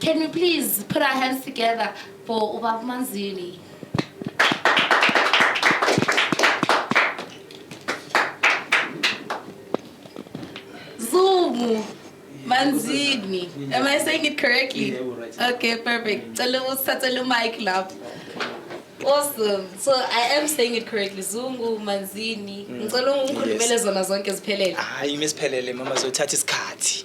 Can we please put our hands together for Ubab Manzini? Zumu Manzini. Am I saying it correctly? Yeah, right. Okay, perfect. Cela usithathele mic lapho. Awesome. So I am saying it correctly. Zungu Manzini. Mm. Ngicela ungikhulumele zona zonke ziphelele. Hayi, imesiphelele mama zothatha isikhathi.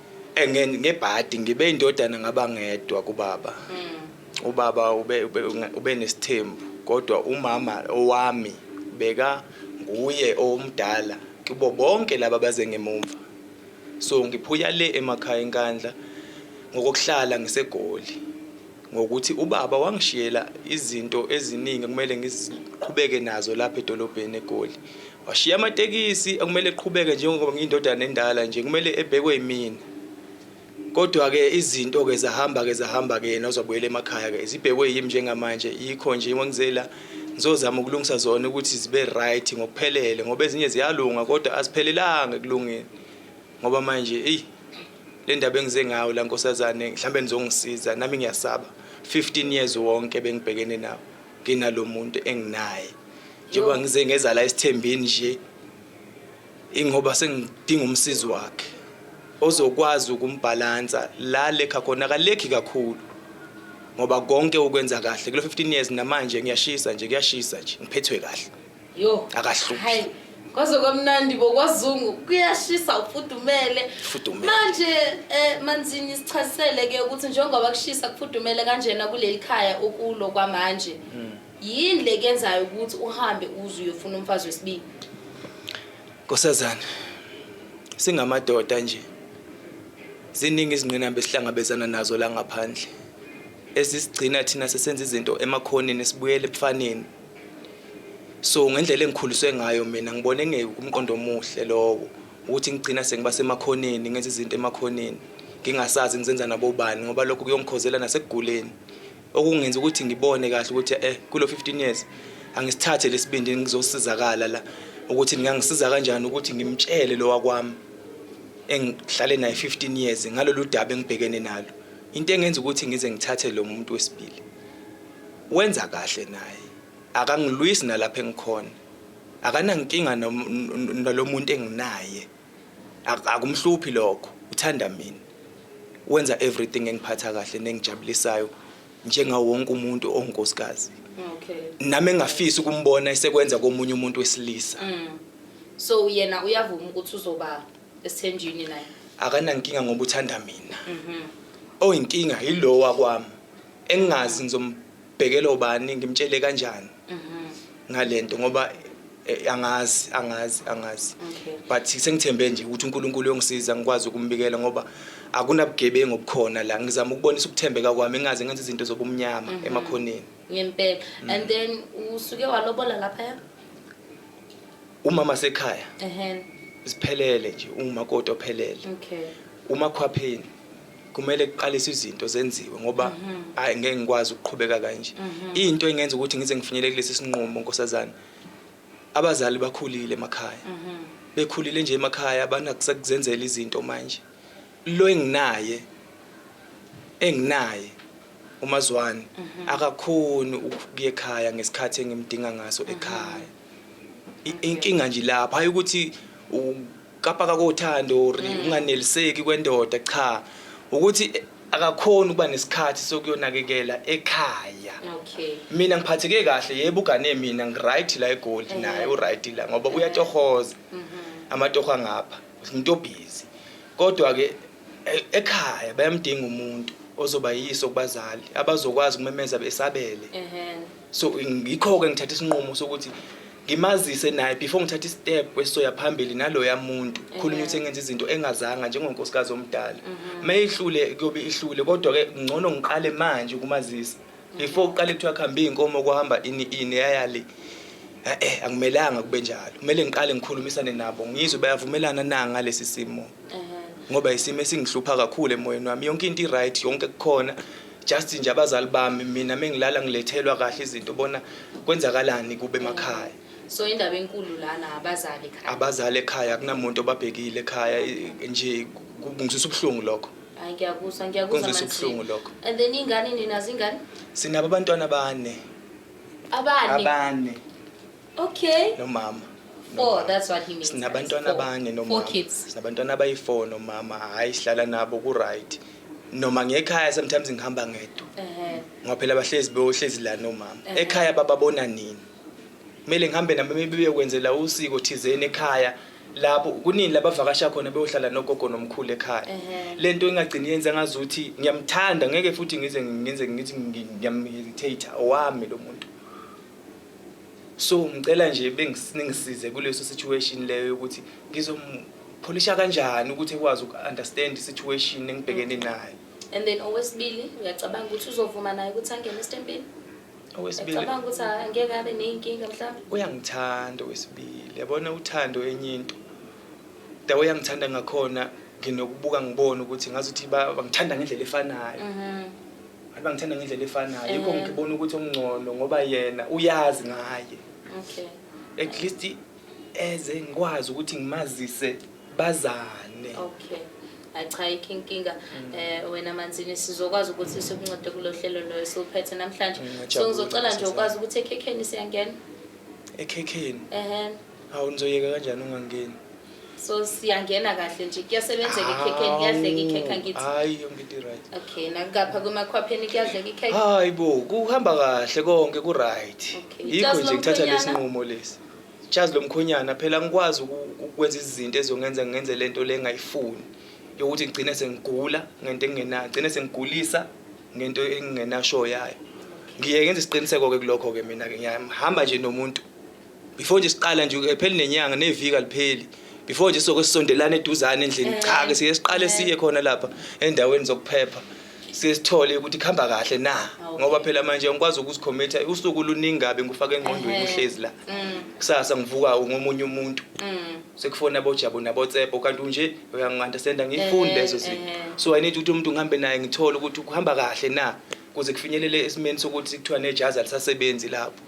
ngebhadi ngibe indodana ngaba ngedwa kubaba hmm. ubaba ube ube nesithembu kodwa umama owami beka nguye omdala kubo bonke laba baze ngemumva so ngiphuya le emakhaya enkandla ngokuhlala ngisegoli ngokuthi ubaba wangishiyela izinto eziningi ekumele ngiziqhubeke nazo lapha edolobheni eGoli. Washiya amatekisi ekumele eqhubeke njengoba ngiyindodana endala nje kumele ebhekwe yimina. Kodwa-ke izinto-ke zahamba-ke zahamba-ke yena uzobuyela emakhaya-ke zibhekwe yimi njengamanje yikho nje ngizela ngizozama ukulungisa zona ukuthi zibe right ngokuphelele ngoba ezinye ziyalunga kodwa asiphelelanga ekulungeni ngoba manje eyi le ndaba engize ngayo la nkosazane mhlawumbe nizongisiza nami ngiyasaba 15 years wonke bengibhekene nawo nginalo muntu enginaye njengoba ngize ngeza la esithembeni nje ingoba sengidinga umsizi wakhe ozokwazi ukumbhalansa la lekha khona akalekhi kakhulu ngoba konke ukwenza kahle kulo 15 years namanje ngiyashisa nje kuyashisa nje ngiphethwe kahle Yo. Akahluphi. Hayi. Kwaze kwamnandi bo kwazungu kuyashisa ufudumele. Fudumele. Manje eh manzini sichasisele ke ukuthi njengoba kushisa kufudumele kanjena kuleli khaya okulo kwamanje. Yini le kenzayo ukuthi uhambe uze uyofuna umfazi wesibili? Nkosazana, singamadoda nje. Ziningi izingqinamba esihlangabezana nazo la ngaphandle. Ezisigcina thina sesenza izinto emakhoneni sibuyele ebufaneni. so ngendlela engikhuliswe ngayo mina ngibone kungekumqondo omuhle lowo ukuthi ngigcina sengiba semakhoneni ngenza izinto emakhoneni ngingasazi ngizenza nabobani ngoba lokho kuyongikhozela nasekuguleni okungenza ukuthi ngibone kahle ukuthi eh kulo 15 years angisithathe lesibindi ngizosizakala la ukuthi ngingangisiza kanjani ukuthi ngimtshele lo wakwami engihlale naye 15 years ngalolu daba engibhekene nalo into engenza ukuthi ngize ngithathe lo muntu wesibili Wenza kahle naye. Akangilwisi nalapha engikhona. Akanankinga nalomuntu enginaye. Akumhluphi lokho. Uthanda mina. Wenza everything engiphatha kahle nengijabulisayo njengawo wonke umuntu onkosikazi. Okay. Nami engafisa ukumbona esekwenza komunye umuntu wesilisa. Mm. So yena uyavuma ukuthi uzoba esithenjini naye. Akanankinga ngoba uthanda mina. Mhm. Oyinkinga yilowa kwami. engingazi ngizombhekela ubani ngimtshele kanjani mhm. ngalento ngoba eh, angazi angazi angazi but sengithembe nje ukuthi uNkulunkulu uyongisiza ngikwazi ukumbikela ngoba akunabugebengu obukhona la ngizama ukubonisa ukuthembeka kwami engaze ngenze izinto zobumnyama mhm. emakhoneni ngempela mm. and then usuke walobola lapha umama sekhaya ehhe siphelele nje umakoti ophelele okay umakhwapheni kumele kuqaliswe izinto zenziwe ngoba mhm. hayi ngeke ngikwazi ukuqhubeka kanje mhm. into engenza ukuthi ngize ngifinyelele kulesi sinqumo nkosazana abazali bakhulile emakhaya mhm. bekhulile nje emakhaya abanakusakuzenzela izinto manje lo enginaye enginaye umazwane akakhoni ukuye ekhaya ngesikhathi engimdinga ngaso ekhaya inkinga nje lapha hayi ukuthi ukapaka kothando or mm. unganeliseki kwendoda cha ukuthi akakhona ukuba nesikhathi sokuyonakekela ekhaya okay mina ngiphatheke kahle yebo ugane mina ngiright la egoli eh. naye uright la ngoba eh. uyatohoza mm-hmm. amatoho angapha umuntu obhizi kodwa ke e-, ekhaya bayamdinga umuntu ozobayisa kubazali abazokwazi ukumemeza besabele ehhe so ngikho-ke ngithatha isinqumo sokuthi ngimazise naye before ngithatha istep kwesoya phambili naloya muntu khulunywa ukuthi engenza izinto engazanga njengonkosikazi omdala uma mhm. ihlule kuyobe ihlule kodwa-ke ngcono ngiqale manje ukumazisa before uqale kuthiwa kuhambe iy'nkomo kuhamba ini ini yayale e-e akumelanga kube njalo kumele ngiqale ngikhulumisane nabo ngizwe bayavumelana na ngalesi simo ngoba isimo esingihlupha kakhulu emoyeni wami yonke into i-right yonke kukhona just nje abazali bami mina mengilala ngilethelwa kahle izinto bona kwenzakalani kube emakhaya so indaba enkulu lana abazali ekhaya abazali ekhaya akunamuntu obabhekile ekhaya nje kungizwisa ubuhlungu lokho hayi ngiyakuzwa ngiyakuzwa ubuhlungu lokho and then ingane nina zingane sinabo abantwana abane abane abane Okay. Nomama. Four, nomama. that's what he means. Sinabantwana Four. abane Four nomama. kids. Sinabantwana abayi-four nomama. Hhayi sihlala nabo ku-right. Noma ngekhaya sometimes ngihamba ngedwa. Ehhe. Ngoba phela bahlezi beyohlezi la nomama. Eh. Ekhaya bababona nini? Kumele ngihambe nabo maybe beyokwenzela usiko thizeni ekhaya. Lapho kunini labavakasha khona beyohlala nogogo nomkhulu ekhaya. Ehhe. Le nto ingagcini yenza ngazuthi ngiyamthanda ngeke futhi ngize ngenze ngithi ngi- ngiyamhesitata owami lo muntu. so ngicela nje bengisize kuleso situation leyo ukuthi ngizompolisha kanjani ukuthi ekwazi uku-understand i-situation engibhekene nayo and then owesibili uyacabanga ukuthi uzovuma naye ukuthi angene esitempini owesibili-cabanga ukuthi angeke abe ney'nkinga mhlawumbe uyangithanda owesibili yabona uthando enye into da uyangithanda ngakhona nginokubuka ngibone ukuthi ngazuthi bangithanda ngendlela efanayo mhm. Hayi bangithanda ngendlela efanayo. Yikho Eh. ngibona ukuthi ongcono ngoba yena uyazi ngaye. Okay. At least eze ngikwazi ukuthi ngimazise bazane. Okay. Hayi cha ikho inkinga eh wena manzini sizokwazi ukuthi sikuncede kulo hlelo loyo siwuphethe namhlanje. Mm, So ngiyajabula ngizocela nje ukuthi ukwazi ukuthi ekhekheni siyangena. Ekhekheni. Ehhe. Hawu nizoyeka kanjani ungangeni? So siyangena kahle nje kuyasebenzeka ikhekhe kuyadleka ikhekhe angithi. Hayi yonke into right. Okay nakapha kumakhwapheni kuyadleka ikhekhe. Hayi bo kuhamba kahle konke ku right. Okay. Yikho Ijazi nje ngithatha lomkhwenyana? lesinqumo lesi. Jazi lomkhonyana phela ngikwazi uku- ukwenza izinto ezongenza ngenze lento le engayifuni yokuthi ngigcine sengigula ngento engenayo, ngigcine sengigulisa ngento engingenasho yayo. Ngiye ngenze isiqiniseko ke kulokho ke mina ke ngiyahamba nje nomuntu before nje siqala nje epheli nenyanga neviki alipheli before nje soke sisondelane eduzane endlini eh, cha ke siye siqale eh. siye khona lapha endaweni zokuphepha sesithole ukuthi kuhamba kahle na ah, ngoba phela manje ngikwazi ukuzikhomitha usuku luningi kabi ngifaka engqondweni eh. uhlezi la mm. kusasa ngivuka ngomunye umuntu mm. sekufona abojabo nabotsepo kanti unje uyangiwanda senda ngiyifuni lezo zinto so i need ukuthi umuntu ngihambe naye ngithole ukuthi kuhamba kahle na kuze kufinyelele esimeni sokuthi kuthiwa nejazi alisasebenzi lapho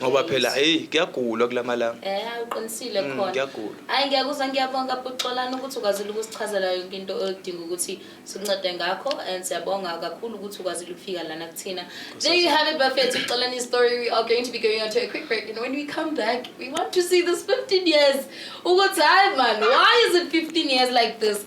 ngoba phela hey kuyagulwa kulamalanga eh uqinisile mm, khona kuyagulwa hayi ngiyakuzwa ngiyabonga buxolana ukuthi ukwazile ukusichazela yonke into odinga ukuthi sikuncede ngakho and siyabonga kakhulu ukuthi ukwazile ukufika lana kuthina there you have it bafethu uxolani story we are going to be going on to a quick break and when we come back we want to see this 15 years ukuthi hayi man why is it 15 years like this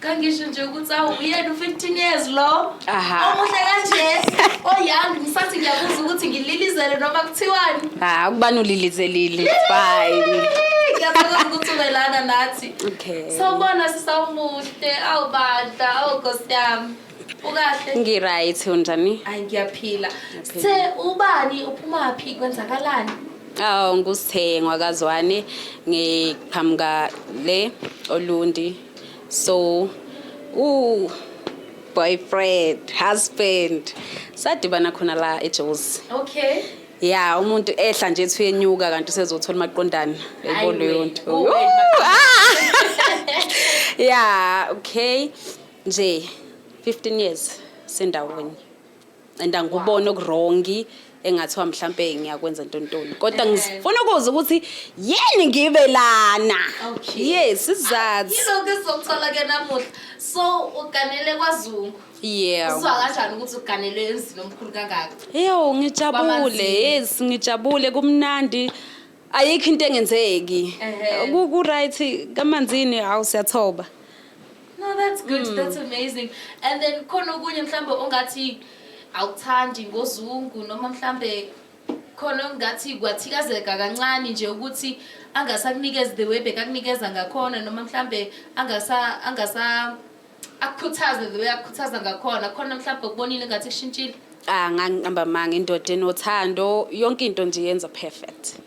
Kangisho nje ukuthi awu uyena u-15 years lo. Aha. Omuhle kanje. Oyoung ngisathi ngiyabuza ukuthi ngililizele noma kuthiwani. Ha, ukubani ulilizelile. Fine. Ngiyathokoza ukuthi ube lana nathi. Okay. Sawubona sisawumuhle, awu bandla, awu Nkosi yami. Ukahle? Ngi-right unjani? Hayi ngiyaphila. Sithe ubani uphumaphi kwenzakalani? Awu ngusithengwa kazwane ngiqhamuka le Olundi. so u boyfriend husband sadibana khona la ejozi okay ya umuntu ehla nje ethi uyenyuka kanti usezothola umaqondana yayibona leyo nto oh, ah! ya okay nje 15 years sendawonye and angikuboni okurongi engathiwa mhlampe ngiyakwenza ntontoni kodwa ngifuna ukuza ukuthi yini ngibe lana yes isizathu yilo ke sizokuthola ke namuhla so uganele kwazungu yeah uzwa kanjani ukuthi uganele emzini omkhulu kangaka eyo ngijabule yes ngijabule kumnandi ayikho into engenzeki ku right kamanzini hawu siyathoba No, that's good. Mm. That's amazing. And then khona okunye mhlambe ongathi awuthandi ngozungu noma mhlambe khona ongathi kwathikazeka kancane nje ukuthi angasakunikeza the way bekakunikeza ngakhona noma mhlambe angasa angasa akukhuthaze the way akukhuthaza ngakhona khona mhlambe ukubonile ngathi kushintshile ah ngangihamba manga indoda enothando yonke into nje yenza perfect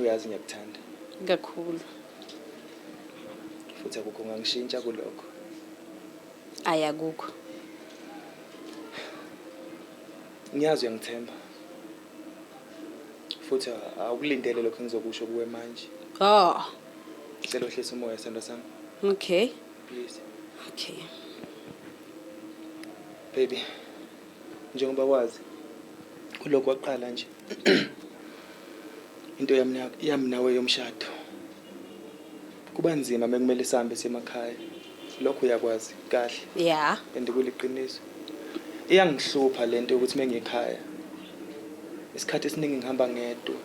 uyazi ngiyakuthanda kakhulu futhi akukho ngangishintsha kulokho ayakukho ngiyazi uyangithemba futhi awukulindele lokho engizokusho kuwe manje oh ngicela uhlise umoya sendo sami okay please okay baby Njengoba wazi kulokhu waqala nje into yami na- yami nawe yomshado. Kuba nzima mekumele sihambe semakhaya. Lokho uyakwazi kahle ya and kuliqiniso. Iyangihlupha lento yokuthi mengikhaya isikhathi esiningi ngihamba ngedwa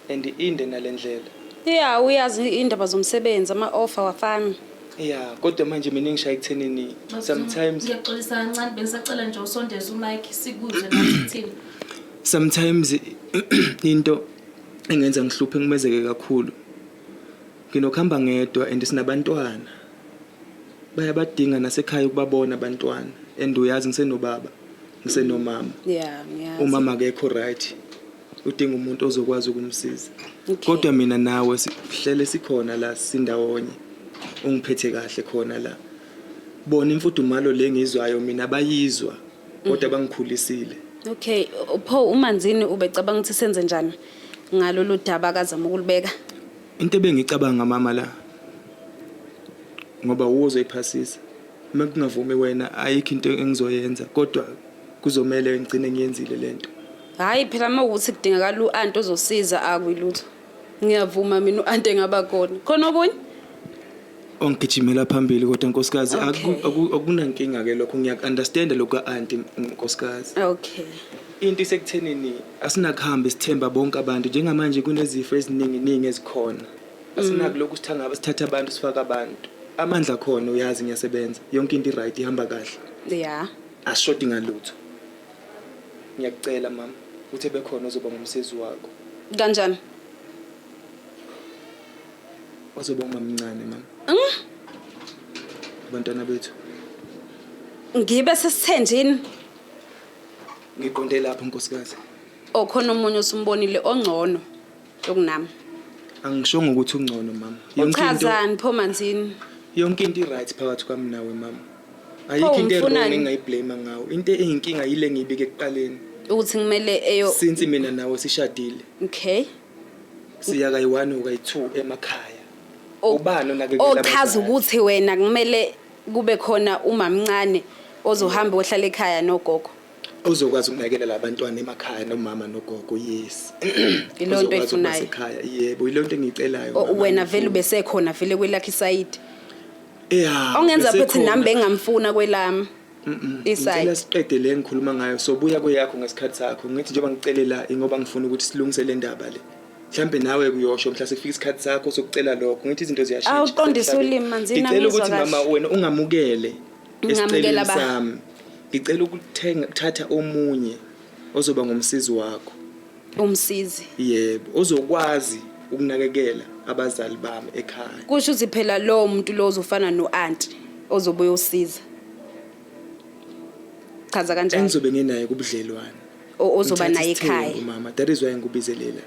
and inde nalendlela. ya uyazi indaba zomsebenzi ama-offer wafana ya kodwa manje mina ngishaye ekuthenini sometimes ngiyaxolisa kancane bengisacela nje usondeze umike sikuze nathini sometimes into engenza ngihluphe ngimezeke kakhulu nginokuhamba ngedwa and sinabantwana bayabadinga nasekhaya ukubabona abantwana and uyazi ngisenobaba ngisenomama yeah ngiyazi umama akekho right udinga umuntu ozokwazi ukumsiza kodwa mina nawe sihlele sikhona la sindawonye ungiphethe kahle khona la bona imfudumalo le ngizwayo mina bayizwa kodwa mhm. bangikhulisile okay pho umanzini ubecabanga ukuthi senze njani ngalolu daba akazama ukulibeka into ebengicabanga mama la ngoba uwo uzoyiphasisa uma kungavumi wena ayikho into engizoyenza kodwa kuzomele ngigcine ngiyenzile lento Hhayi phela uma ukuthi kudingakala u-anti ozosiza akwilutho ngiyavuma mina u-anti engaba khona khona okunye ongigijimela phambili kodwa nkosikazi akunankinga-ke lokho ngiyaku-understanda lokhu ka-anti nkosikazi okay into isekuthenini asinakuhambe sithemba bonke abantu njengamanje kunezifo ezininginingi ezikhona mm. asinakulokhu sithangaba sithatha abantu sifake abantu amandla khona uyazi ngiyasebenza yonke into i-right ihamba kahle ya asishodi ngalutho Ngiyakucela mama, uthi ebekhona ozoba ngumsizi wakho. Kanjani? Ozoba umamncane mama. Mm? Abantwana bethu. Ngibe sesithenjini. Ngiqonde lapho nkosikazi. Okhona umunye osumbonile ongcono yokunami. Angishongo ukuthi ungcono mama. Yonke into. Uchazani pho manzini? Yonke into i right phakathi kwami nawe mama. ayikho into wrong umfunani? engayiblame ngawo into eyinkinga yile ngiyibike ekuqaleni ukuthi kumele eyo since mina nawe sishadile okay siya kayi-one or kayi-two emakhaya O- ubani onakekela ochaza abazali? ukuthi wena kumele kube khona umamncane ozohamba ohlala ekhaya nogogo ozokwazi ukunakekela labantwana emakhaya nomama nogogo yes Ilo nto Ozokwazi ukuba oyifunayo. sekhaya yebo yilo nto engiyicelayo O- mama, wena vele ngiyifuna. ubesekhona vele kwelakhe isayidi Yeah. ongenza bese ukuthi khona. nami bengamfuna kwelami Ngicela isayidi siqede le ngikhuluma ngayo sobuya kweyakho ngesikhathi sakho ngithi njengoba ngicele la ingoba ngifuna ukuthi silungise le ndaba le mhlambe nawe kuyosho mhla sekufika isikhathi sakho sokucela lokho ngithi izinto ziyashintsha Awu, qondisa Emhlabeni. ulimi, manzini, ngicela angizwa ukuthi kahle. mama wena ungamukele Ngingamukela esiceleni ba? sami ngicela ukuthenga ukuthatha omunye ozoba ngumsizi wakho umsizi yebo ozokwazi ukunakekela abazali bami ekhaya kusho ukuthi phela lowo muntu lo uzofana no-anti ozobe uyosiza chaza kanjani engizobe nginaye kubudlelwane O- ozoba Ngithatha naye isithembu, ekhaya mama that is why ngikubizelela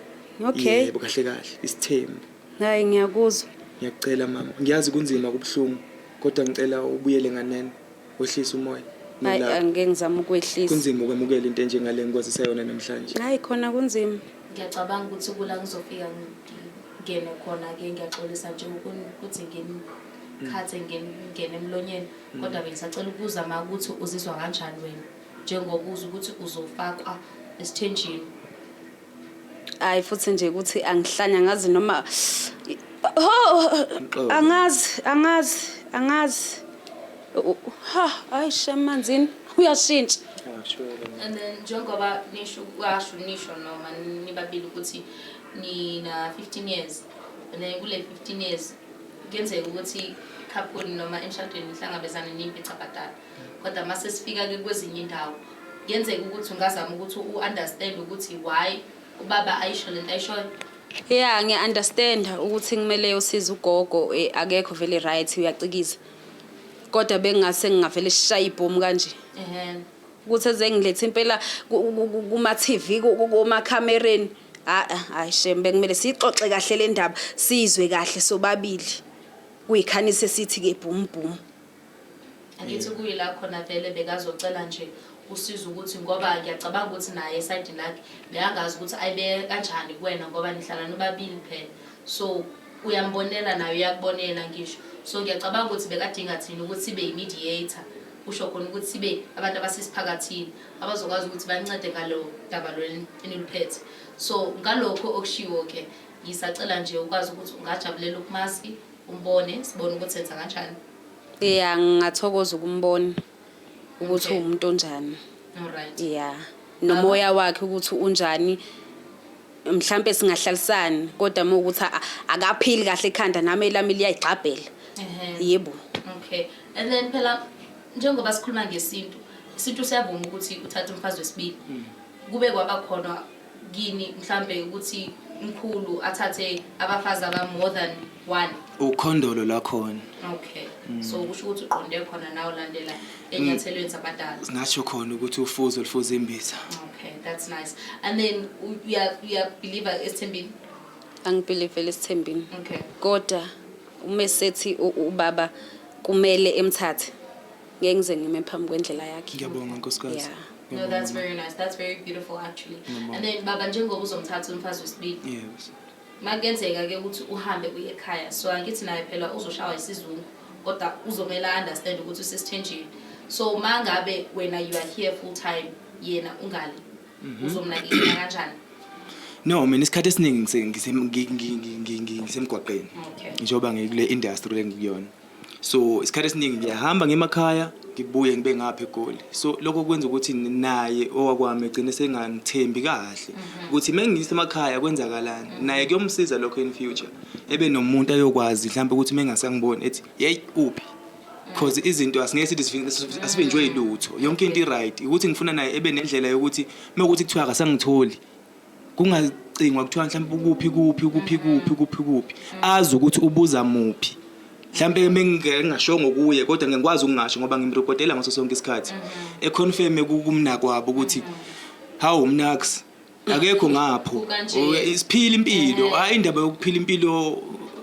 Okay. yebo kahle kahle isithembu hayi ngiyakuzwa ngiyacela mama ngiyazi kunzima kubuhlungu kodwa ngicela ubuyele nganeno wehlisa umoya hayi nolaka. angike ngizama ukwehlisa Kunzima ukwamukela into enjengale ngikwazisa yona namhlanje. hayi khona kunzima ngiyacabanga ukuthi kula ngizofika ngingene khona-ke ngiyaxolisa nje ukun- ukuthi nginikhathe ngen- ngingene emlonyeni kodwa bengisacela ukubuza ma ukuthi uzizwa kanjani wena njengoba uza ukuthi uzofakwa esithenjini hayi futhi nje ukuthi angihlanya ngazi noma oh, angazi angazi angazi ha hayi shemanzini uyashintsha and then njengoba nisho kwasho nisho noma nibabili ukuthi nina 15 years and then kule 15 years kuyenzeka ukuthi couple noma emshadweni nihlangabezane nimpi cabhadala kodwa uma sesifika-ke kwezinye indawo kuyenzeka ukuthi ungazama ukuthi u-understand ukuthi why ubaba ayisho lento ayishoyo ya ngiya-understanda ukuthi kumele usize ugogo eh, akekho vele right uyacikiza kodwa bengingase ngingavele sishaye ibhomu kanje ukuthi ezengilethe impela kuma-tv komakhamereni hayi shem bekumele siyixoxe kahle le ndaba sizwe kahle sobabili kuyikhanise sithi-ke bhumubhumu Angithi kuyila khona vele bekazocela nje usizo ukuthi ngoba ngiyacabanga ukuthi naye esayidini lakhe bekangazi ukuthi ayibeke kanjani kuwena ngoba nihlala nobabili phela so uyambonela naye uyakubonela ngisho so ngiyacabanga ukuthi bekadinga thina ukuthi sibe yi-mediator kusho khona ukuthi sibe abantu abasesiphakathini abazokwazi ukuthi bancede ngalo daba lweli eniluphethe so ngalokho okushiwo-ke ngisacela nje ukwazi ukuthi ungajabulela ukumaski umbone sibone ukuthi enza kanjani ya ngingathokoza ukumbona ukuthi Okay. uwumuntu onjani alright ya nomoya wakhe ukuthi unjani mhlampe singahlalisani kodwa uma ukuthi a- akaphili kahle ekhanda nami elami liyayigxabhela Ehhe. yebo okay and then phela njengoba sikhuluma ngesintu isintu siyavuma ukuthi uthathe umfazi wesibili kube kwabakhona kini mhlambe ukuthi mkhulu athathe abafazi aba more than one ukhondolo lakhona okay mm. so kusho ukuthi uqonde khona nawe landela enyathelweni zabadala ngasho khona ukuthi ufuzo lufuza imbiza okay that's nice and then uya uya believer esithembini angibelieve lesithembini okay kodwa uma sethi ubaba kumele emthathe ngeke ngize ngime phambi kwendlela yakhe ngiyabonga nkosikazi yeah. No, that's very nice. That's very beautiful actually. Ngiyabonga. And then baba njengoba uzomthatha umfazi wesibili. yes Makenzeka ke ukuthi uhambe uye ekhaya. So angithi naye phela uzoshawa isizungu kodwa uzomela understand ukuthi usesithenjini. So mangabe wena you are here full time yena ungale. Uzomnakekela kanjani? no mina isikhathi esiningi ngise- ngise- ngi- ngi- ngi- ngi- ngi- ngisemgwaqeni Okay. njengoba ngikule industry lengikuyona so isikhathi esiningi ngiyahamba ngemakhaya ngibuye ngibe ngapha egoli so lokho kwenza ukuthi naye owakwami egcine sengangithembi kahle mhm. ukuthi uma ngiyise emakhaya kwenzakalani naye kuyomsiza lokho in future ebe nomuntu ayokwazi mhlawumbe ukuthi uma engasangiboni ethi yeyi uphi because izinto asingeke sithi asivinjwe yilutho yonke into i-right ukuthi ngifuna naye ebe nendlela yokuthi uma ukuthi kuthiwa akasangitholi kungacingwa kuthiwa mhlawumbe ukuphi kuphi ukuphi kuphi ukuphi kuphi azi ukuthi ubuza muphi mhlawumbe engingashongo kuye kodwa ngikwazi ukungasho ngoba ngimrekodela ngaso sonke isikhathi mm-hmm. econfirme kumnakwabo ukuthi hawu mnax akekho ngapho isiphila impilo mm-hmm. hayi indaba yokuphila impilo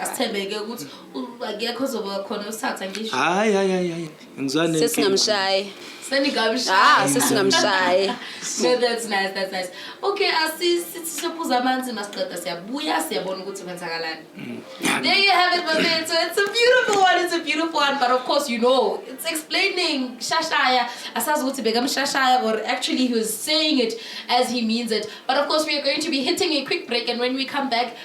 asithembeke ukuthi akekho ozoba khona usithatha ngisho hayi hayi hayi hayi ngizwane sesingamshayi seningamshayi ah sesingamshayi no that's nice that's nice okay asisiphuza amanzi masiqeda siyabuya siyabona ukuthi kwenzakalani mm. there you have it babe so it's a beautiful one it's a beautiful one but of course you know it's explaining shashaya asazi ukuthi bekamshashaya or actually he was saying it as he means it but of course we are going to be hitting a quick break and when we come back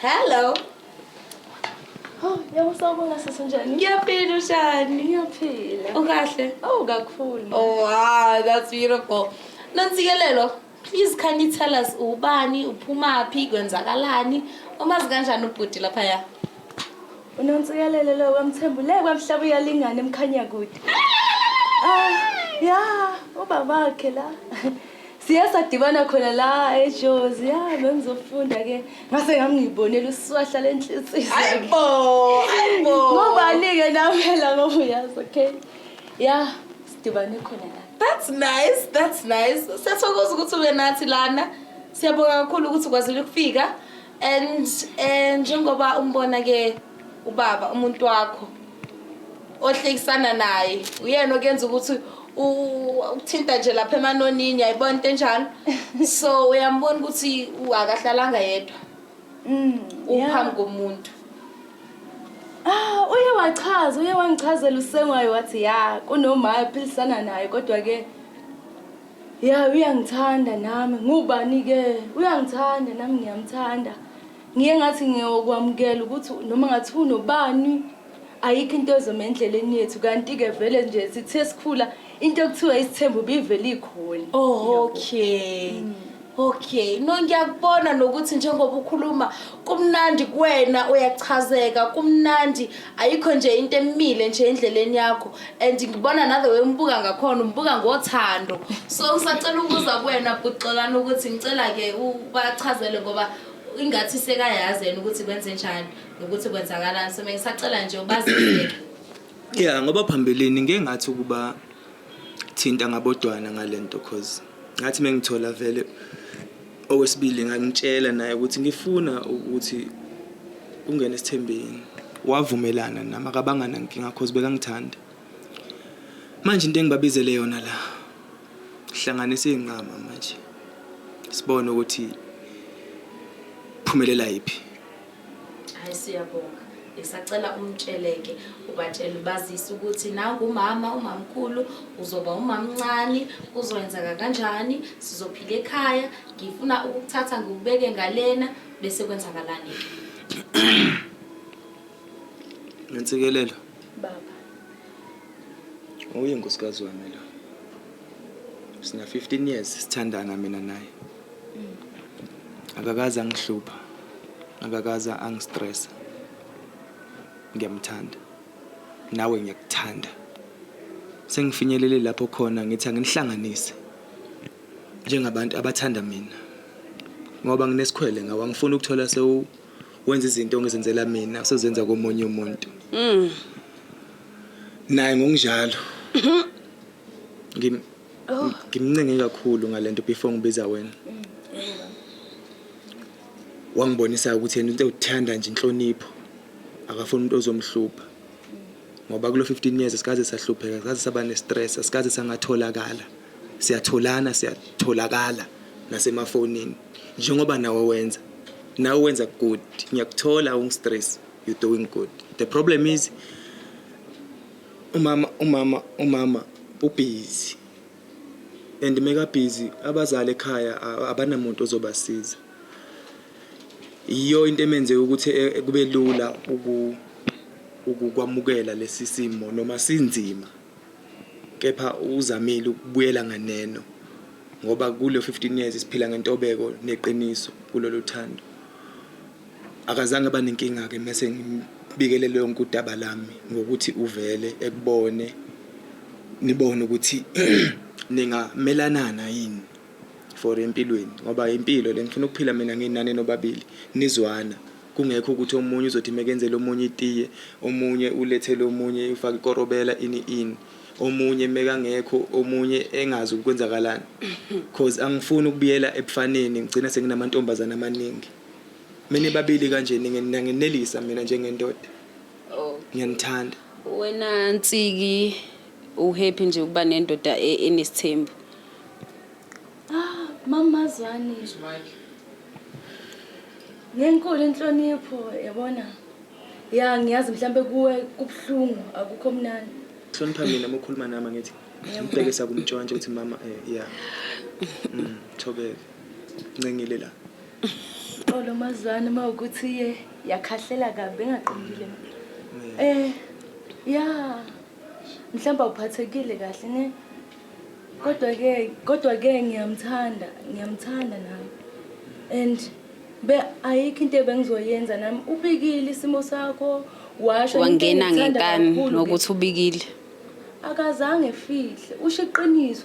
Hello. Oh, yawusabona sisi njani? Ngiyaphila ushani. Ngiyaphila. Ukahle? Oh, kakhulu. Oh, wow, that's beautiful. Nonsikelelo, please can you tell us ubani, uphumaphi, kwenzakalani? Umazi kanjani ubhuti lapha ya? Unonsikelelo lo kwamthembu le kwamhlaba uyalingana emkhanya kude. Ah, ya, ubabakhe la. Siye sadibana khona la eJozi. Ya, bengizofunda ke. Ngase ngami ngibonela uswahla lenhliziyo. Hayibo, hayibo. Ngobani ke namela ngoba uyazi, okay? Ya, sidibane khona la. That's nice, that's nice. Siyathokoza ukuthi ube nathi lana. Siyabonga kakhulu ukuthi ukwazile ukufika. and eh, njengoba umbona ke ubaba umuntu wakho ohlekisana naye uyena okuyenza ukuthi u- ukuthinta nje lapha emanonini yayibona into enjalo so uyambona ukuthi u- akahlalanga yedwa Mm, yeah. uphambi komuntu Ah, uye wachaza uye wangichazela usengwayo wathi ya kunomaya philisana naye kodwa ke Ya uyangithanda nami ngubani ke uyangithanda nami ngiyamthanda ngiye ngathi ngiyokwamukela ukuthi noma ngathi unobani ayikho into ezoma endleleni yethu kanti ke vele nje sithe sikhula into ekuthiwa isithembu bivele ikhona oh okay mm. Okay, no ngiyakubona nokuthi njengoba ukhuluma kumnandi kuwena uyachazeka kumnandi ayikho nje into emile nje endleleni yakho and ngibona nathe wembuka ngakhona umbuka ngothando so ngisacela ukuza kuwena bhuxolana ukuthi ngicela ke ubachazele ngoba ingathi sekayazi yena ukuthi kwenze njani nokuthi kwenzakalani so mengisacela nje ubaziseke Yeah ngoba phambilini ngeke ngathi ukuba ngangithinta ngabodwana ngalento cause ngathi mengithola vele okwesibili ngangitshela naye ukuthi ngifuna ukuthi ungene esithembeni wavumelana nami akabanga nankinga cause bekangithanda manje into engibabizele yona la hlanganisa izinqama manje sibone ukuthi phumelela yipi Hayi siyabonga. Ngisacela umtsheleke ubatshele bazise ukuthi nangu umama umamkhulu uzoba umamncane kuzoyenzeka kanjani sizophila ekhaya ngifuna ukuthatha ngikubeke ngalena bese kwenzakalani Ngensikelelo baba Uyinkosikazi wami lo Sina 15 years sithandana mina naye akakaze angihlupha akakaze angistressa ngiyamthanda nawe ngiyakuthanda sengifinyelele lapho khona ngithi anginihlanganise njengabantu abathanda mina ngoba nginesikhwele ngawe angifuni ukuthola sewu wenza izinto ongizenzela mina usezenza komunye umuntu mm. naye ngokunjalo Oh. Ngimncenge kakhulu ngalento before ngibiza wena. Wangibonisa ukuthi yena into uthanda nje inhlonipho. Akafuni umuntu ozomhlupha. Ngoba kulo 15 years sikaze sahlupheka, sikaze saba ne stress, sikaze sangatholakala. Siyatholana, siyatholakala nasemafonini. Njengoba nawe wenza. Nawe wenza good. Ngiyakuthola ungistress. You're doing good. The problem is Umama umama umama ubhizi and mekabhizi abazali ekhaya abanamuntu ozobasiza. Yiyo into emenze ukuthi e, e, kube lula ukwamukela lesi simo noma sinzima kepha uzamile ukubuyela nganeno ngoba kulo 15 years siphila ngentobeko neqiniso kulolu thando. Akazange aba nenkinga-ke mese ngimbikele lonke udaba lami ngokuthi uvele ekubone nibone ukuthi ningamelanana yini for empilweni ngoba impilo le ngifuna ukuphila mina nginani nobabili nizwana kungekho ukuthi omunye uzothi mekenzele omunye itiye omunye ulethele omunye ufake ikorobela ini ini omunye mekangekho omunye engazi ukwenzakalani cause angifuni ukubuyela ebufaneni ngigcina senginamantombazana amaningi menibabili kanje ningenelisa mina njengendoda oh. ngiyanithanda wena nsiki uhappy nje ukuba nendoda e, enesithembu ah mama zwani ngenkulu inhlonipho yabona ya ngiyazi mhlambe kuwe kubhlungu akukho mnandi hlonipha mina mokhuluma nami ngithi ngibhekisa kumtshwantshwa ukuthi mama eh yeah mm thobeka Ncengile la. Xolo mazwana uma ukuthi iye yakhahlela kabi engaqondile. Eh ya mhlawumbe uphathekile kahle ne kodwa ke kodwa ke ngiyamthanda ngiyamthanda nami and be ayikho into ebengizoyenza nami ubikile isimo sakho washo wangena ngenkani ngokuthi ubikile akazange fihle usho iqiniso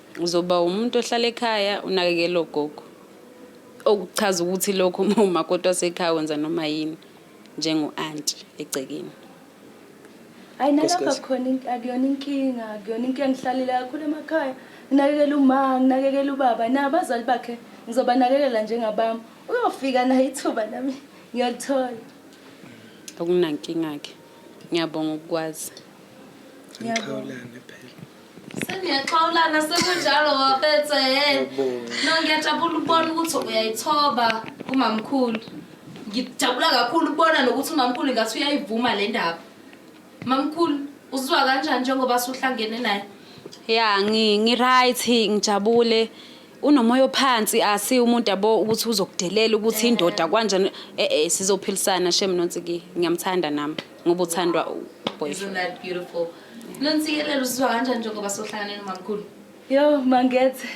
Uzoba umuntu ohlala ekhaya unakekela ogogo. Okuchaza ukuthi lokho uma umakoti wasekhaya wenza noma yini njengo-anti egcekeni. Hayi nalapha khona akuyona inkinga, akuyona inkinga ngihlalile kakhulu emakhaya. Nginakekela uma, nginakekela ubaba, nabazali bakhe ngizobanakekela njengabami. Uyofika naye ithuba nami ngiyalithola. Akunankinga-ke. Ngiyabonga ukukwazi. Ngiyabonga. Sengiyaxhawulana sekunjalo waphethe yena. No ngiyajabula ukubona ukuthi uyayithoba kumamkhulu. Ngijabula kakhulu ukubona nokuthi umamkhulu ngathi uyayivuma le ndaba. Mamkhulu uzizwa kanjani njengoba suhlangene naye? Ya ngi ngi right ngijabule. unomoya ophansi asi umuntu yabo ukuthi uzokudelela ukuthi indoda kwanjani eh eh sizophilisana shem nonsi ki ngiyamthanda nami ngoba uthandwa boyfriend beautiful nonsikelelo usizwa kanjani njengoba sohlangane nomamkhulu yo mangethe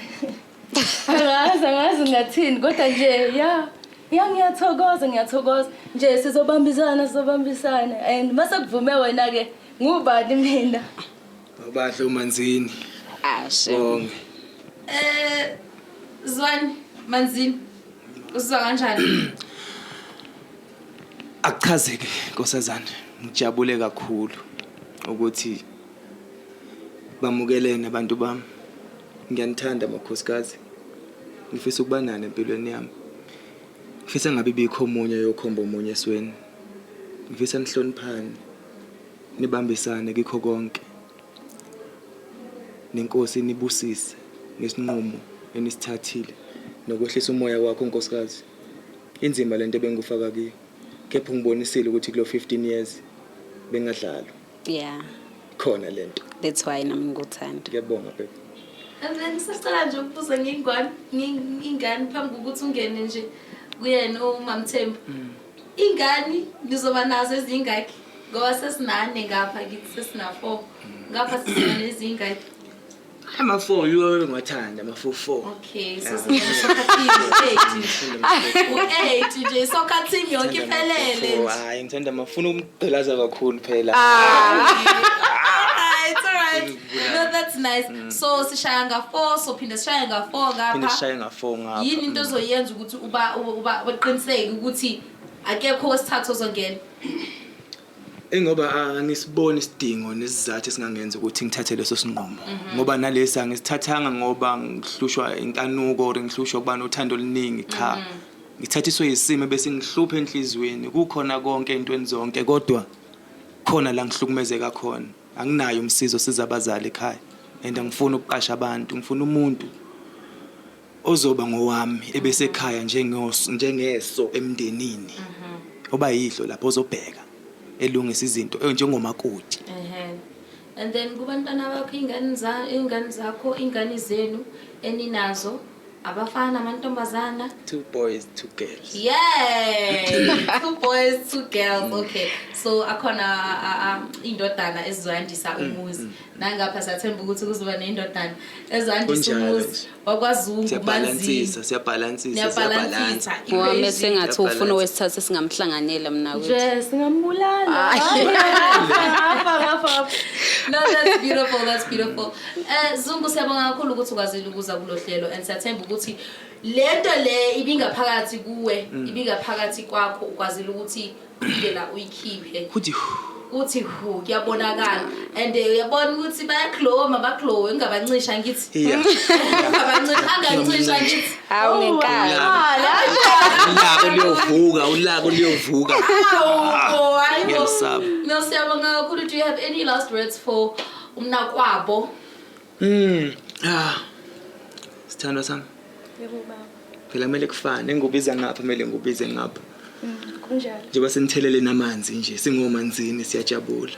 angazi angazi ngathini kodwa nje ya ya ngiyathokoza ngiyathokoza nje sizobambisana sizobambisana and mase kuvume wena ke ngubani mina bahle umanzini ashe bonke eh zwani manzini usizwa kanjani Akuchazeke nkosazana, ngijabule kakhulu ukuthi bamukelene abantu bami. Ngiyanithanda makhosikazi. Ngifisa ukuba nani empilweni yami. Ngifisa ngabe bikho omunye yokhomba omunye esweni. Ngifisa nihloniphane, nibambisane kikho konke. Nenkosi nibusise ngesinqumo enisithathile nokwehlisa umoya wakho nkosikazi. Inzima lento ebengikufaka kiyo. Kepha ungibonisile ukuthi kulo 15 years bengadlalwa. Yeah. Khona lento. That's why nami ngikuthanda. Ngiyabonga baby. Mina ngisacela nje ukubuza ngingwani ingane phambi kokuthi ungene nje kuyena uMamthembu. Mm. Ingane nizoba nazo ezingaki? Ngoba sesinane ngapha kithi sesina 4. Mm. Ngapha sizona ezingaki? Ama four yiwo engiwathanda ama four four. Okay, so singena soccer team eight. U-eight nje soccer team yonke iphelele. Four, Hayi ngithanda mafuna ukumgqilaza kakhulu phela. Alright, alright. No, that's nice. So sishaya nga four, so phinde sishaya nga four Phinde ngapha. sishaye nga four ngapha. Yini into ozoyenza ukuthi uba uba uba- uqiniseke ukuthi akekho wesithathu ozongena? Ingoba angisiboni isidingo nesizathu esingangenza ukuthi ngithathe leso sinqumo mhm. ngoba nalesi angisithathanga ngoba ngihlushwa inkanuko or ngihlushwa ukuba nothando oluningi cha mhm. ngithathiswe yisimo bese ngihluphe enhliziyweni kukhona konke entweni zonke kodwa khona la ngihlukumezeka khona anginayo umsizo siza abazali ekhaya and angifuni ukuqasha abantu ngifuna umuntu ozoba ngowami ebesekhaya njengoso njengeso emndenini oba yidlo lapho ozobheka elungisa izinto eh, njengomakoti Ehe. And then kubantwana bakho ingane za ingane zakho ingane zenu eninazo abafana amantombazana. two boys two girls Yay! two boys, two girls. Okay. So akhona a- a- indodana ezizoyandisa umuzi. nangapha siyathemba ukuthi kuzoba neyindodana ezandisa umuzi wakwazungubanziyabhalansisa wame sengathi ufuna owesithathu esingamhlanganyela mna nje singambulala No, that's beautiful, that's beautiful. Uh, Zungu siyabonga kakhulu ukuthi ukwazile ukuza kulo hlelo and siyathemba ukuthi lento le ibingaphakathi kuwe mm. ibingaphakathi kwakho ukwazile ukuthi indlela uyikhiphe kuthi kuthi hu kuyabonakala and eh, uyabona ukuthi bayaglowa mabaglowe ngingabancisha ngithi iya ngingabancisha angancisha ngithi Hawu ngenkani. ulaka luyovuka ulaka luyovuka Awu, hayi bo. ngiyalisaba. No, siyabonga kakhulu. Do you have any last words for umnakwabo? Mm. Ah. Sithandwa sami. Yebo baba. Phela kumele kufane ngubiza ngapha kumele ngubize ngapha. Mm, kunjalo. Njengoba sinithelele namanzi nje singomanzini siyajabula.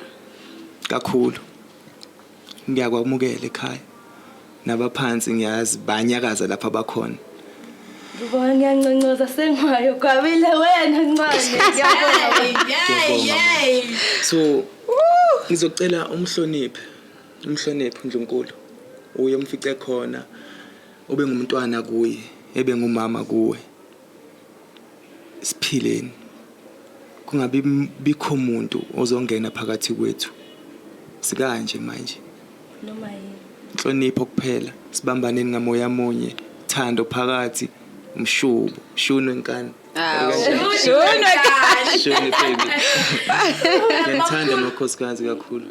Kakhulu. Ngiyakwamukela ekhaya. Nabaphansi ngiyazi banyakaza lapha bakhona. Ngibona ngiyanconcoza sengwayo kwabile wena ncane. Yay yay. So ngizocela umhloniphe Umhloniphe uNdlunkulu uye umfice khona ube ngumntwana kuye ebe ngumama kuwe siphileni kungabi bikho muntu ozongena phakathi kwethu sikanje manje noma yini inhlonipho kuphela sibambaneni ngamoya munye thando phakathi umshubo shunwe nkani shunwe baby ngiyathanda amakhosikazi kakhulu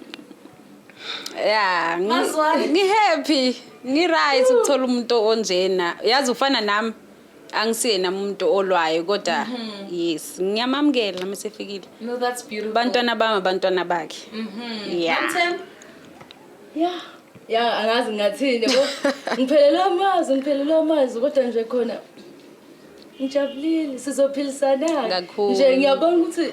ya ngi- ngi-happy ngi-right ukuthola umuntu onjena yazi ufana nami angisiyena umuntu olwayo kodwa yes ngiyamamukela uma sefikile No, that's beautiful. abantwana bami abantwana bakhe ya ya ya angazi ngathini yabo ngiphelele amazi ngiphelele amazi kodwa nje khona ngijabulile sizophilisana Kakhulu. nje ngiyabona ukuthi